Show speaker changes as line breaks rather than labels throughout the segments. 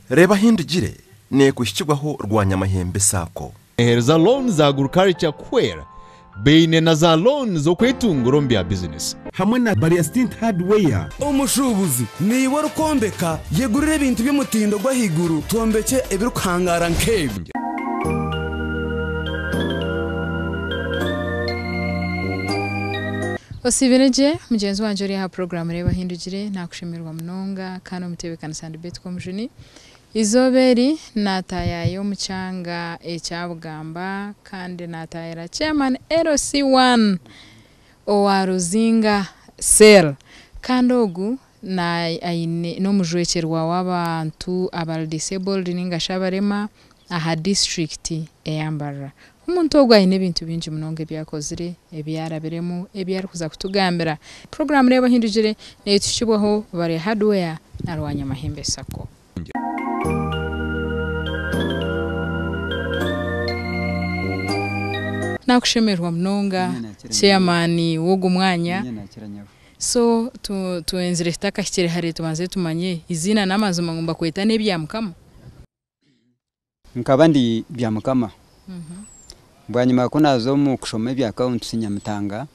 Reeba ahi ndigire, nekuhikirwaho rwanyamahembe saako. Eheru za looni za
agriculture kuhwera, baine na za looni z'okwetungura omu bya bizinesi. Hamwe na Barya Stint
Hardware. Omushuubuzi
naiwe orikwombeka, yegurire ebintu by'omutindo gw'ahaiguru twombekye ebirikuhangaara nk'ebi.
Osiibire gye mugyenzi wangye ori aha puroguraamu Reeba ahi ndigire, naakushemererwa munonga kandi omu tebeekanisa. Betkomjuni. Eizooba eri naataayaaya omu kyanga ekya Bugamba kandi naataayira Chairman LC I owa Ruzinga Cell kandi ogu n'omujwekyerwa w'abantu abari disabled nainga shi abarema. aha disiturikiti eya Mbarara. Omuntu ogu aine ebintu bingi munonga ebi akozire, ebi arabiremu, ebi arikuza kutugambira. Puroguraamu Reeba Ohindukire neetuhikibwaho Barea Hardware na Rwanyamahembe Sacco. Naakushemererwa munonga chairman w'ogu mwanya. So twenzire tutakahikire hare tubanze tumanye eiziina n'amazima ngu nibakweta n'ebyamukama?
Nkaba ndi Byamukama. Bwanyima ku naaza omu kushoma ebya Kaunti Nyamitanga,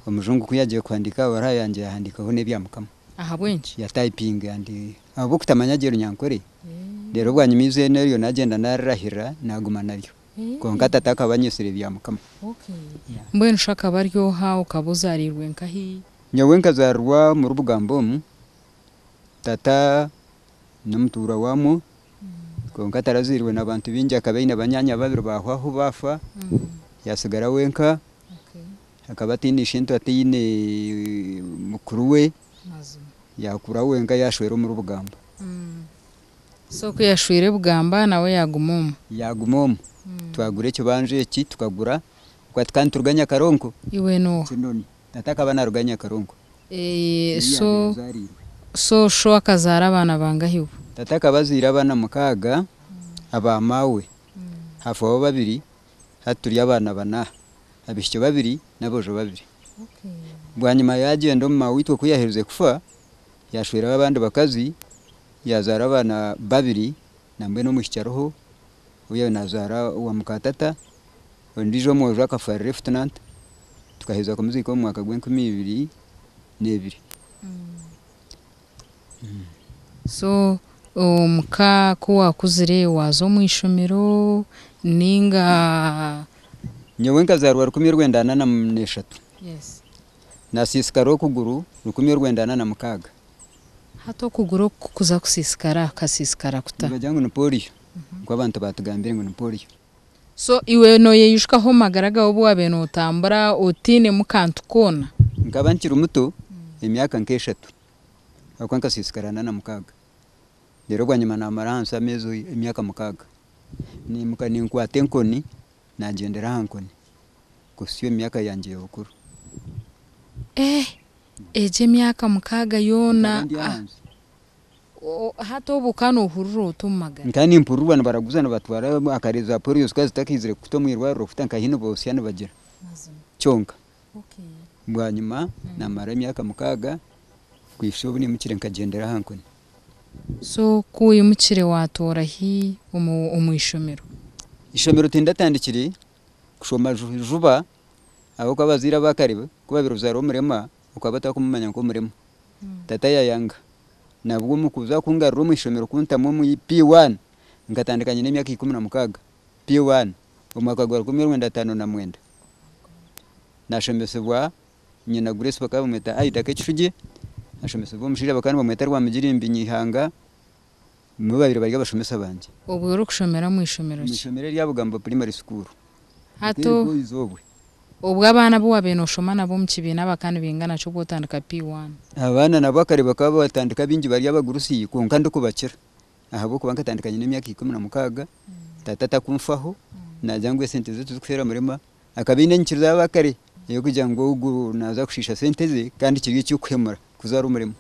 omujungu ku yaagire kuhandiika aha baruha yangye yahandiikaho n'Ebyamukama. Ahabw'enki?
Yataipinga andi
ahabw'okutamanya gye Runyankore. Reero bwanyima eiziina eryo naagyenda naarirahirira naaguma naryo. Kwonka tata akaba anyetsire Byamukama.
Mbwenu shi akaba ari oha? Okaba ozaariirwe nkahi? Nyowe nkazaarirwa
omuri Bugamba omu. Tata. N'omutuurwa waamwo, kwonka atarazwirwe na bantu baingi. Akaba aine banyaanya babiri baahwaho baafa, yatsigara wenka. Akaba ataine eishe-ntwa, ataine mukuru we. Yaakura wenka, yaashwera omuri Bugamba.
So ku yashwire Bugamba, nawe yaaguma omwo? Yaaguma
omwo. Twagura ekibanja eki, tukagura. Ahabw'okuba tikaba nituruganya Karonko. Iwe n'oha? Kinoni.
Tata akaba
naruga Nyakarunku. So
so sho akazaara abaana bangahi bo? Tata akaba azaire
abaana mukaaga aba maawe hafaho babiri hati turi abaana bana abishiki babiri nabojo babiri
bwanyima
yagyenda omu maawe itwe kuyaherize kufa yashweraho abandi bakazi yazaara abaana babiri nambwenu omwishiki ariho oyawe nazaara owa muka tata. Ondiijo omwojo akafa Lieutenant, tukaheza kumuziika omu mwaka gw'enkumi ibiri n'ebiri.
So omuka ku waakuzire waaza omu ishomero nainga? Nyowe
nkazaarwa rukumi orwenda ana na mu- n'eshatu.
Naasiisikara
okuguru rukumi orwenda ana na mukaaga.
Hati okuguru oku kukuza kusiisikara, kukasiisikara kuta? Nibagira ngu ni Polio,
nikwo abantu baatugambire ngu ni Polio. So iwe
nooyeyijukaho omu magara gaawe obu waabaire nootambura otainemu kantu koona? Nkaba nkiri muto,
emyaka nk'eshatu ahakuba nkasiisikara ana na mukaaga. Reero bwanyima naamara ahansi ameezi, emyaka mukaaga. Naimuka ninkwata enkoni nagyendera aha nkoni kuhisya omu myaka yangye y'obukuru. Eeh,
egyo emyaka mukaaga yoona? Nkaba ndi ahansi. Hati obu okaba nohurira ota omu magara? Nkaba nimpurirwa nibaraguza
nibatwara akare za polio zikaba zitakahizire kuhita omu irwariro kuhita nkahi nibotsya nibagira kyonka
bwanyima
namara emyaka mukaaga kuhitsya obu nimukire nkagyendera aha nkoni. So
ku oyimukire watoora hi omu ishomero? Ishomero
tindatandikire kushoma juba ahabw'okuba abazaire abakare ku babire ozaara omurema okwa batakumumanya nkomurema tata yayanga nabwo mukuza kungarura omwishomero kuntamu omu P1 nkatandika nyine emyaka ikumi na mukaga P1 omwaka gwa rukumi orwenda atano na mwenda nashomesibwa nyina Grace bakaba bamweta Aida Kekishugi ashomesibwa omushaija bakaba nibamweta Rwamugirimbi Nyihanga Nibo baabaire bari abashomesa bangye. Obwo orikushomera omu
ishomero Omu ki? ishomero erya Bugambo Primary
School. Hati Nk'eryo o-
oize obwe. obwo abaana abu waabaire nooshoma nabo omu kibiina abaka nibaingana ki obwotandika P1? Abaana nabo akare
bakaba batandika abaingi bari abagurusi kwonka ndikubakira ahabw'okuba nkatandika nyine emyaka ikumi na mukaaga, taata atakunfaho, naagira ngu esente ze tizikushwera murema. Akaba aine enyikiriza ya bakare ey'okugira ngu ogu naaza kushiisha sente ze kandi kiri eky'okuhemura kuza ari omurema.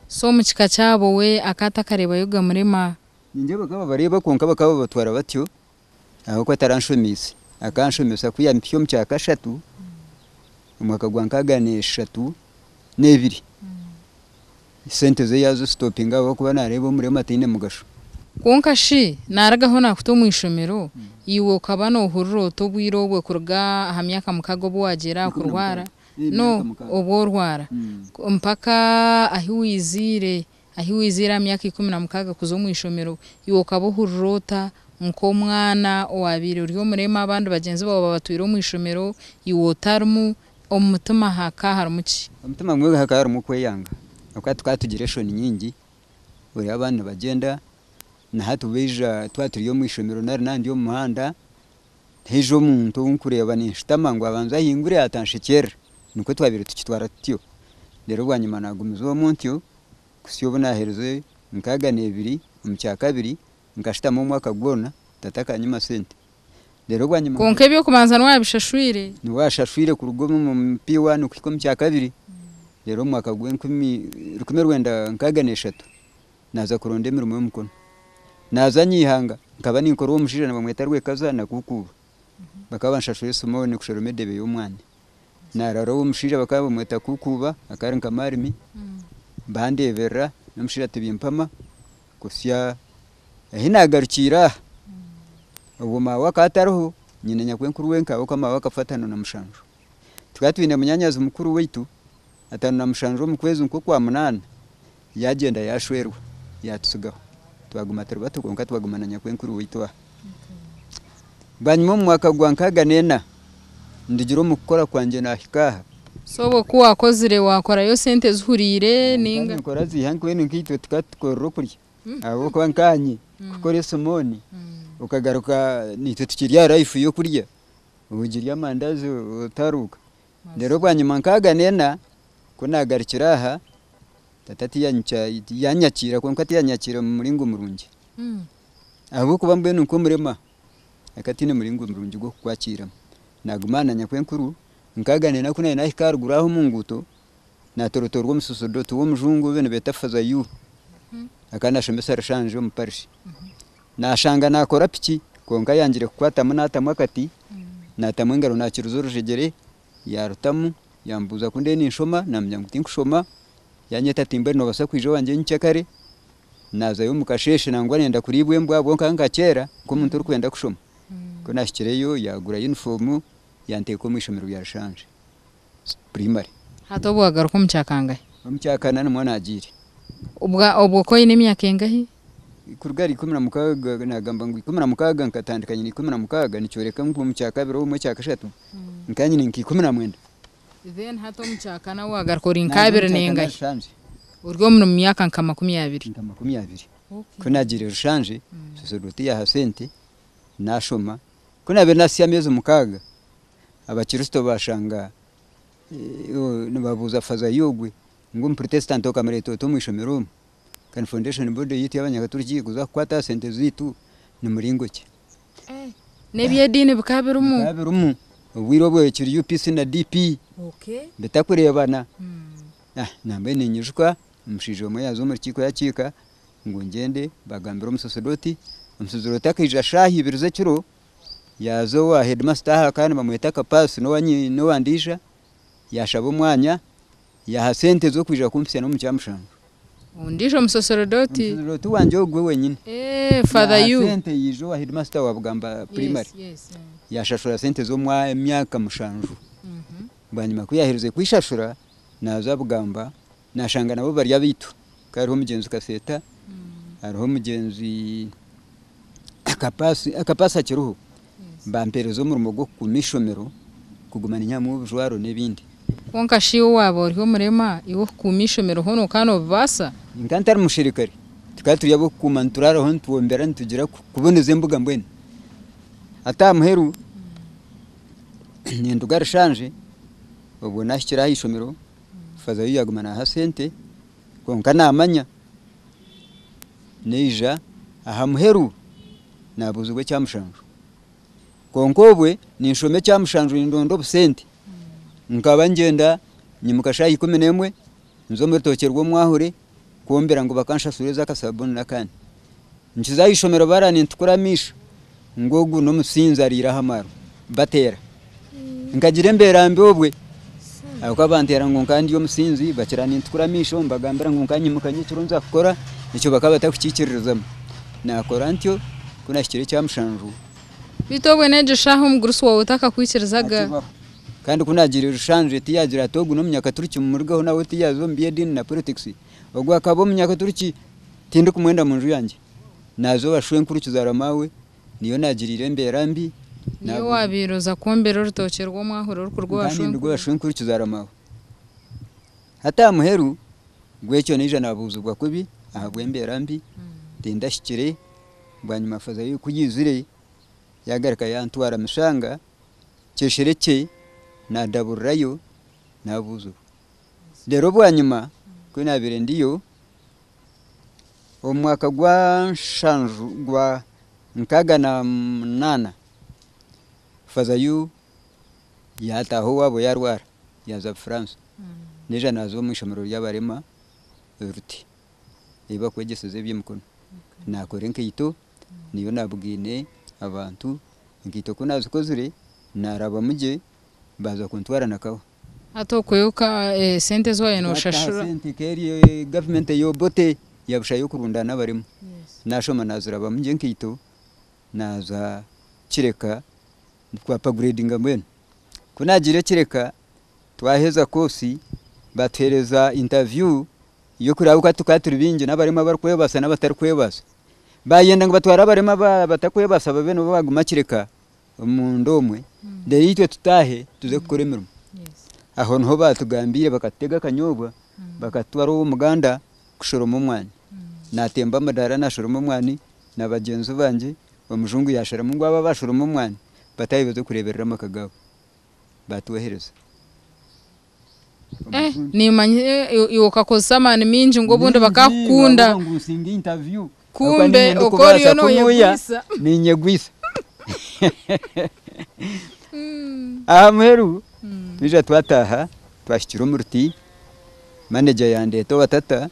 So omu kika kyabo we akaba atakareebayo gamurema? Ningye bakaba
bareeba kwonka bakaba babatwara batyo ahabw'okuba taranshomeize. Akaba anshomesa ku yampitsya omu kya kashatu omwaka gwa nkaaga na eshatu n'ebiri. Sente ze yazi stopinga ahabwokuba nareeba omurema taine mugasho. Kwonka shi
naarugaho naakuta omu ishomero, iwe okaba noohurira ota obwire obwe kuruga aha myaka mukaaga obu waagiire aha kurwara? No, obu orwara. Mpaka ahi waiziire, ahi waiziire aha myaka ikumi na mukaaga kuza omu ishomero, iwe okaba ohurira ota nk'omwana owaabaire ori omurema abandi bagyenzi baawe babatwire omu ishomero, iwe otarimu? Omu mutima haka harimu ki? Omu mutima gumwe haka harimu
okweyanga ahabw'okuba tukaba tugire enshoni nyingi oreeba abaana nibagyenda na hati baija twaba turi omu ishomero nari naaba ndi omu muhanda haija omuntu ou nkureeba ninshutama ngu abanze ahingure ataanshekyeerera nikwo twabaire tukitwara tutyo reero bwanyima naagumiza omu ntyo kuhitsya obu naaherize nkaaga na ibiri omu kyakabiri nkashutama omwaka gwona tata akanyima sente reero bwanyima. Kwonka eby'okubanza
niwaabishashwire. Niwaashashwire
kuruga omu P1 kuhika omu kyakabiri, reero omu mwaka gwa enkumi rukumi rwenda nkaaga n'eshatu naaza kuronda emirimo y'omukono. Naaza Nyaihanga, nkaba ninkora ow'omushaija nibamweta Rwekaza na Kuukuuba. Bakaba banshashura esimooni kushara omu edeebe y'omwaani. Naarara ow'omushaija bakaba nibamweta Kuukuuba akaba ari nka maarimi, bandeeberera n'omushaija tibimpama kuhitsya Ahi naagarukiire aha, obwo maawe akaba atariho, nyina nyakwenkuru wenka ahabw'okuba maawe akafa ataano na mushanju. Tukaba twine munyaanyazi mukuru waitu, ataano na mushanju omu kwezi nk'okwa munaana yaagyenda yaashwerwa yaatutsigaho. Twaguma turi bato kwonka twaguma na nyakwenkuru waitu aha. Bwanyima omu mwaka gwa nkaaga n'ena, ndigire omu kukora kwangye naahika aha. So obwo ku
waakozire waakorayo sente zihuriire nainga? Nkora ziiha mbwenu
nkaitwe tukaba tukorire okurya. Ahabw'okuba nkaanye nk'oku ori Simooni, okagaruka naitwe tukiri aha life y'okurya, ogirya amandazi otaruuka. Reero bwanyima nkaaga neena, ku naagarukire aha, tata tiyanyica yanyakiira kwonka tiyanyakiira omu muringo murungi. Ahabw'okuba mbwenu nk'omurema, akataine muringo murungi gw'okukwakiiramu. Naaguma aha nanya kwenkuru, nkaaga neena ku naari naahika aharuguru aho omu nguuto, naatorotoorwa omusosordoti w'omujungu obe nibeeta Father Yu akaba nashomesa Rushanju omu parish nashanga nakora piki kwonka ayangire kukwatamu natamu akati natamu engaro nakiruza orujegyere yarutamu yamubuuza ku ndiyo ninshoma namugira ngu tinkushoma yanyeta ati mbwenu nobasa kwija owangye nyinkye kare nazayo omu kasheshe nangwa nayenda kuriibwa embwa ahabwonka nkakyera nk'omuntu orikwenda kushoma kunahikireyo yagura yunifoomu yanteka omu ishomero rya Rushanju. primary. Hati obu
wagaruka omu kya kangahe? Omu kya kana nimwo
nagiire. Obwo
ku oine emyaka engahi? Kuruga ahari ikumi
na mukaaga, nagamba ngu ikumi na mukaaga nkatandika nyine ikumi na mukaaga nikyoreka ngu omu kya kabiri obumwe ekya kashatu nkaba nyine nka ikumi na mwenda. Then
hati omu kya kana wagaruka ori nka abiri nengahi? Ori omu myaka nka makumi abiri. Nka makumi abiri. Ku nagiire Rushanje, soserodooti yaha sente nashoma. Ku nabaire nasya ameezi mukaaga, Abakirisito bashanga nibabuuza fazayi ogwe ngu omupurotesitanti okamureeta ota omu ishomero omu? Kandi fondeshoni boodi eyaitu ey'abanyakaturiki kuza kukwata aha sente zaitu ni muringo ki? N'eby'ediini bikaba birimu? Bikaba birimu. Obwire obwo
ekiri UPC na DP bitakureebana. Nambwenu ninyijuka omushaija omwe yaaza omu rukiiko yakiika ngu ngyende bagambire omusosodooti. Omusosodooti akaija shaaha ibiri z'ekiro yaaza owa heedimasita aha ka nibamweta Kapaasi n'owa n'owa Ndiija yaashaba omwanya yaaha sente z'okwija kumpitsya n'omu kyamushanju. Ondiijo
musoserodooti. Omusoserodooti wangye ogwo
wenyine. Eeh Father Yaaha
you. sente yaija owa heedimasita
wa Bugamba Yes Primary yes. yaashashura sente z'omwa emyaka mushanju. Bwanyima ku yaaherize kwishashura naaza Bugamba Nashanga nabo bari abaitu ka hariho omugyenzi kaseeta hariho omugyenzi kapaasi kapaasi akiriho bampereza omurimo gwokukuma ishomero kuguma ninyihamu obujwaro nebindi. Kwonka shi
owaba ori omurema iwe okukuuma ishomero hoona okaba nobibaasa? Nkaba ntari musherikare
tukaba turi abokukuuma nituraaraho nitwombera nitugira kuboneza embuga mbwenu hati ahamuheru ninduga rishanje obwo nahikire ahaishomero Faza yu yaguma naha sente kwonka namanya naija aha muheru nabuzibwa ekya mushanju kwonka obwe ninshoma ekya mushanju nindonda obusente nkaba nigyenda nyimuka shaha ikumi nemwe nza omu rutookye rwomwahure kwombera ngu bakanshasure eza akasabuni nakandi nkiza ahishomero bara nintukura amaisho ngu ogu nomusinzi arire ahamaro batera nkagira embera mbi obwe ahabwokuba bantera ngu nkaba ndi omusinzi bakira nintukura amaisho nibagambira ngu nkanyimuka ngu ekiro nza kukora ekyo bakaba batakukikiririzamu nakora ntyo kunahikire ekyamushanju. Beitu obwe
negyo shaha omugurusi wawe takakwikirizagayo? Kandi ku
naagira Rushanzwe tiyaagira ati ogu n'Omunyakaturiki mumurugeho nawe tiyaaza omu by'ediini na polotikisi. Ogu akaba Omunyakaturiki tindikumwenda mu nju yangye. Naaza owa shwenkuru kizaarwa maawe niyo naagiriire embeera mbi. Niiwe owaabaire
oza kwombera orutookye rw'omwahura orikuruga owa shwenkuru. Nkaanye nduga owa shwenkuru kizaarwa
maawe. Hati aha muheru gw'ekyo naija naabuuzibwa kubi ahabw'embeera mbi tindahikire. Bwanyima faza y'oku yaizire yaagaruka yantwara Mushanga. kyeshere kye nadaburirayo nabuzurwa reero obwanyima ku nabaire ndiyo omu mwaka gwa nshanju gwa nkaaga na munaana faaza yu yataaha owaabo yarwara yaaza Bufaransa naija naaza omu ishomero ry'abarema Ruti ei bakwegyeseza eby'emikono nakora enkaito niyo nabugine abantu enkaito ku nazikozire narabamu gye baza kuntwara nakawa. Hati okwe oka
sente eziwabaire noshashura. Hati sente keri
government eya Obote yabusha yokurundana abarema nashoma nazirabamu gye enkaito naza kireka Twapagreedinga mbwenu ku naagiire kireka twaheza koosi baatuheereza intaviyu y'okureba ahu tukaba turi baingi n'abarema abarikwebaasa n'abatarikwebaasa. Baayenda ngu batware abarema abatarikwebaasa babe nibo baaguma kireka omunda omwe reero itwe tutaahe tuze kukora emirimo. Aho niho baatugambiire bakatutega akanyoobwa bakatutwara ow'omuganda kushoroma omwani. Naatemba amadaara naashoroma omwani na bagyenzi bangye Omujungu yaasharamu ngu abo abashoroma omwani bataahe baze kureeberera amaka gaabo. Baatwohereza.
Eh, niimanya iwe okakozesa amaani maingi ngu obundi bakaakukunda. Ningira ngu nsinge interview.
Kumbe oku
oriyo nooyegwisa. Niinyegwisa.
Aha muheru twija twataaha, twahikire omu ruti, manager yaandeeta owa tata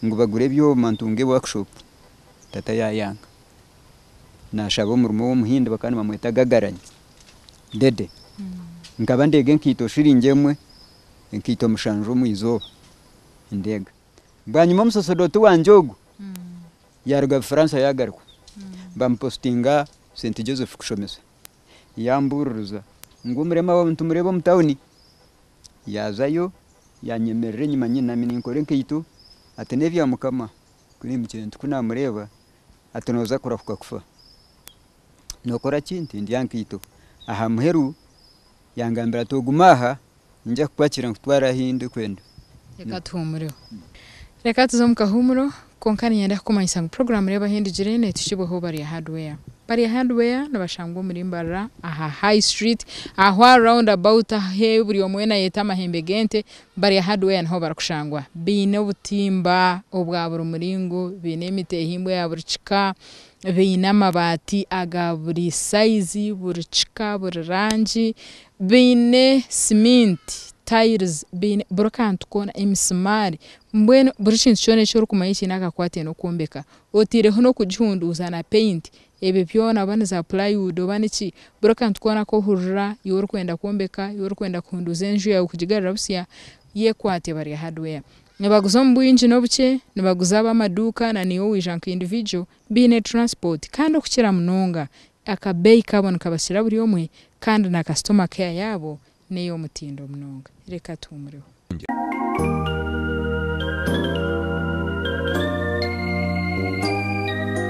ngu bagure ebyoma ntunge workshop, tata yaayanga. nashaba omurimo w'omuhindi bakaba nibamweta Gagaranyi Dede. Nkaba ndeega enkaito shiringi emwe, enkaito mushanju omu izooba nindeega. Bwanyima omusosodooti wangye ogu yaruga Bufaransa yagaruka bamupositinga St Joseph kushomesa. Yambuuririza ngu omurema waawe nitumureeba omu tauni. Yaazayo yanyemerera enyima nyinami ninkora enkaito ati n'ebya Mukama, ku naimukiire nti ku naamureeba Ati, Nooza kurahuka kufa. Nookora ki? Nti, Ndya nkaito. Aha muheru yangambira ati, Ogume aha, ninyija kukwakira nkutware ahu ndikwenda. Reka tuhuumureho.
Reka tuze omu kahuumuro. Kwonka niinyenda kukumanyisa ngu puroguraamu Reeba Ahu Ndigire neetukibweho Barya Hardware. Barya Hardware nibashangwa omuri Mbarara aha High Street, ahu aha round about ahu buri omwe weena ayeeta Amahembe g'Ente, Bari aha hardware niho barikushangwa baine obutimba obwa buri muringo, baine emiti ehimbwe ya buri kika, baine amabaati aga buri sayizi, buri kika, buri rangi, baine siminti, tiles, baine buri kantu koona, emisimaari, mbwenu buri kintu kyona eki orikumanya ekiine akakwatyo n'okwombeka, otaireho n'okugihunduuza na peyinti, Ebyo byona oba ni za plywood oba niki, buri akantu koona aku ohurira iwe orikwenda kwombeka, iwe orikwenda kuhunduuza enju yaawe kugigarura busya, yekwate bari hardware. Nibaguza omu bwingi n'obukye, nibaguza ab'amaduuka na naiwe waija nka individual, baine transport kandi okukira munonga akabeeyi kabo nikabakira buri omwe kandi na customer care yaabo n'ey'omutindo munonga. Reka tuhumureho.